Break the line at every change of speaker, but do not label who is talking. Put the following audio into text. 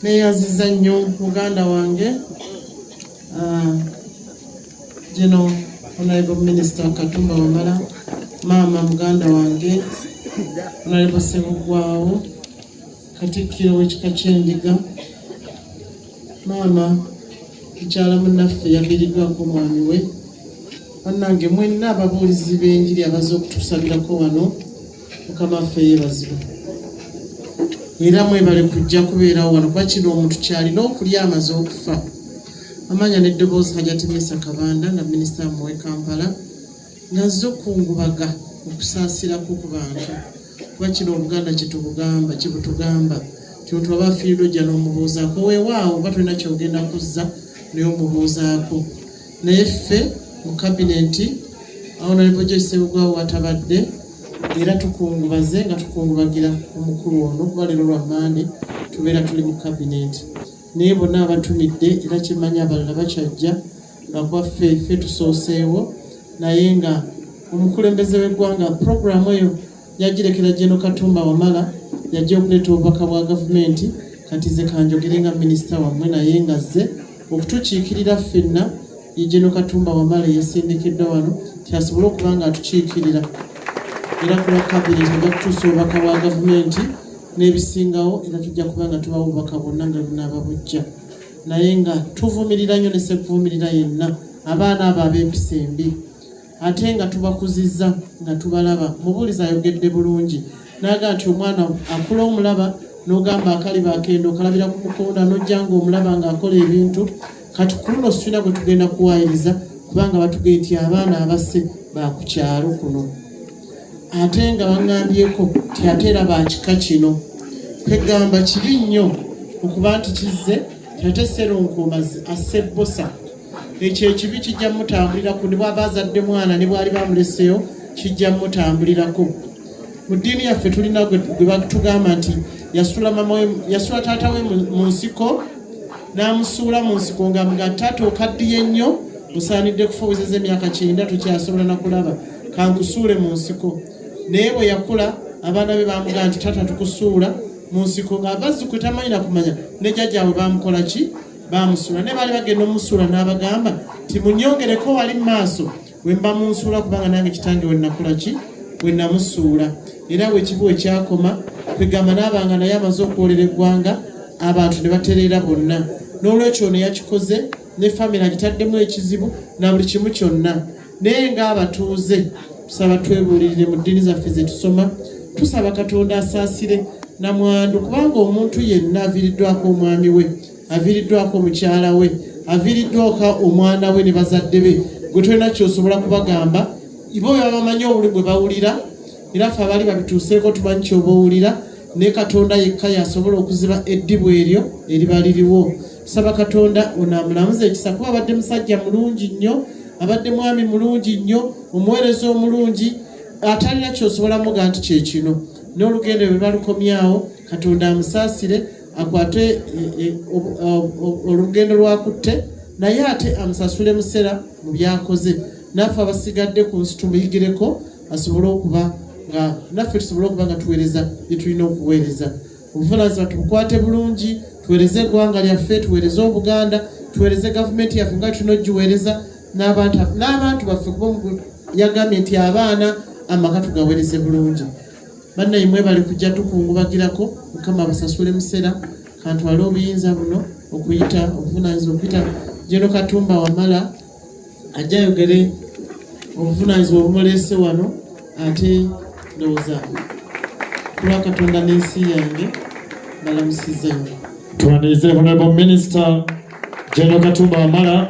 neeyaziza nnyo muganda wange ah, gino onaibu minisita katumba wamala maama muganda wange onaibu sebuggwawo Katikkiro w'ekika ky'Endiga maama mukyala munaffe yaviiriddwako omwami we bannange mwenna ababuulizi b'enjiri abaze okutusabirako wano mukama ffe yeebazibwa era mwebale kujja kubeerawo wano kuba kino omuntu kyalina okulya amaze okufa amanya n'eddoboozi hajati misa kabanda nga minisita muwe kampala nazo kungubaga okusaasira kwo ku bantu kuba kino obuganda kyetubugamba kyebutugamba kyotu aba afiiridwa ojja n'omubuuzaako weewaawo oba tulina kyogenda kuzza naye omubuuzaako naye ffe mu kabineti awo nalibojaisebugawo watabadde era tukungubaze nga tukungubagira omukulu ono kuba leero lwa mande tubeera tuli mu kabineti naye bonna abatumidde era kyemanya abalala bakyajja nga kwaffe ffe tusooseewo naye nga omukulembeze w'eggwanga puroguramu eyo yagirekera Jeno Katumba Wamala yajja okuleeta obubaka bwa gavumenti kati ze kanjogere nga minisita wammwe naye nga zze okutukiikirira ffenna ye Jeno Katumba Wamala eyasindikiddwa wano kyasobole okuba nga atukiikirira era ku lwa kabineeti ajja kutuusa obubaka bwa gavumenti n'ebisingawo era tujja kuba nga tubawo obubaka bwonna nga bunaaba bujja naye nga tuvumirira nnyo ne sekuvumirira yenna abaana abo ab'empisa embi ate nga tubakuzizza nga tubalaba mubuulizi ayogedde bulungi naaga nti omwana akula omulaba n'ogamba akaliba akenda okalabira ku mukonda n'ojja nga omulaba ng'akola ebintu kati ku luno situlina gwe tugenda kuwaayiriza kubanga batugee nti abaana abasse baakukyalo kuno ate nga baŋŋambyeko nti ate era ba kika kino kwegamba kibi nnyo okuba nti kizze ate seronkomazi asse bbosa ekyo ekibi kijja mutambulirako ne bwaba azadde mwana ne bwali bamuleseyo kijja mutambulirako mu ddiini yaffe tulina gwe batugamba nti yasula taata we mu nsiko n'amusuula mu nsiko nga mga taata okaddiye nnyo musaanidde kufubuziza emyaka kyenda tukyasobola nakulaba kankusuule mu nsiko naye bwe yakula abaana be bamugamba nti taata tukusuula mu nsiko ng'abazzukulu tamanyi na kumanya ne jjajjaabwe bamukola ki bamusuula naye baali bagenda omusuula n'abagamba nti munyongereko wali mu maaso we mba munsuula kubanga nange kitange we nakula ki we namusuula era wekibu we kyakoma kwegamba n'abanga naye amaze okwolera eggwanga abantu ne batereera bonna n'olwekyo ono yakikoze ne famire agitaddemu ekizibu na buli kimu kyonna naye ng'abatuuze tusaba twebuulirire mu ddiini zaffe ze tusoma tusaba katonda asaasire namwandu kubanga omuntu yenna aviiriddwako omwami we aviiriddwako omukyala we aviiriddwako omwana we ne bazadde be gwe tolina kyosobola kubagamba ibo bebabamanyi obuli bwe bawulira era ffe abaali babituuseeko tumanyi kyoba owulira ne katonda yekka yasobola okuziba eddibu eryo eriba liriwo tusaba katonda ono amulamuza ekisa kuba abadde musajja mulungi nnyo abadde mwami mulungi nnyo omuweereza omulungi atalina kyosobola muga nti kyekino n'olugendo lwe balukomyawo katonda amusaasire akwate e, e, olugendo lwakutte naye ate amusasule musera mu byakoze naffe abasigadde ku nsi tumuyigireko asobole okuba nga naffe tusobole okuba nga tuweereza byetulina okuweereza obuvunaanyizibwa tubukwate bulungi tuweereze eggwanga lyaffe tuweereze obuganda tuweereze gavumenti yaffe nga tulina ogiweereza n'abantu baffe kuba yagambye nti abaana amaka tugaweereze bulungi bannaye mwebale kujja tukungubagirako mukama abasasule museera kantwale obuyinza buno okuyita obuvunaanyizibwa okuyita jeno katumba wamala ajja ayogere obuvunaanyizibwa obumuleese wano ate ndowooza kuba katonda n'ensi yange balamusiza
nnyo tuwanirize honorable minister general katumba wamala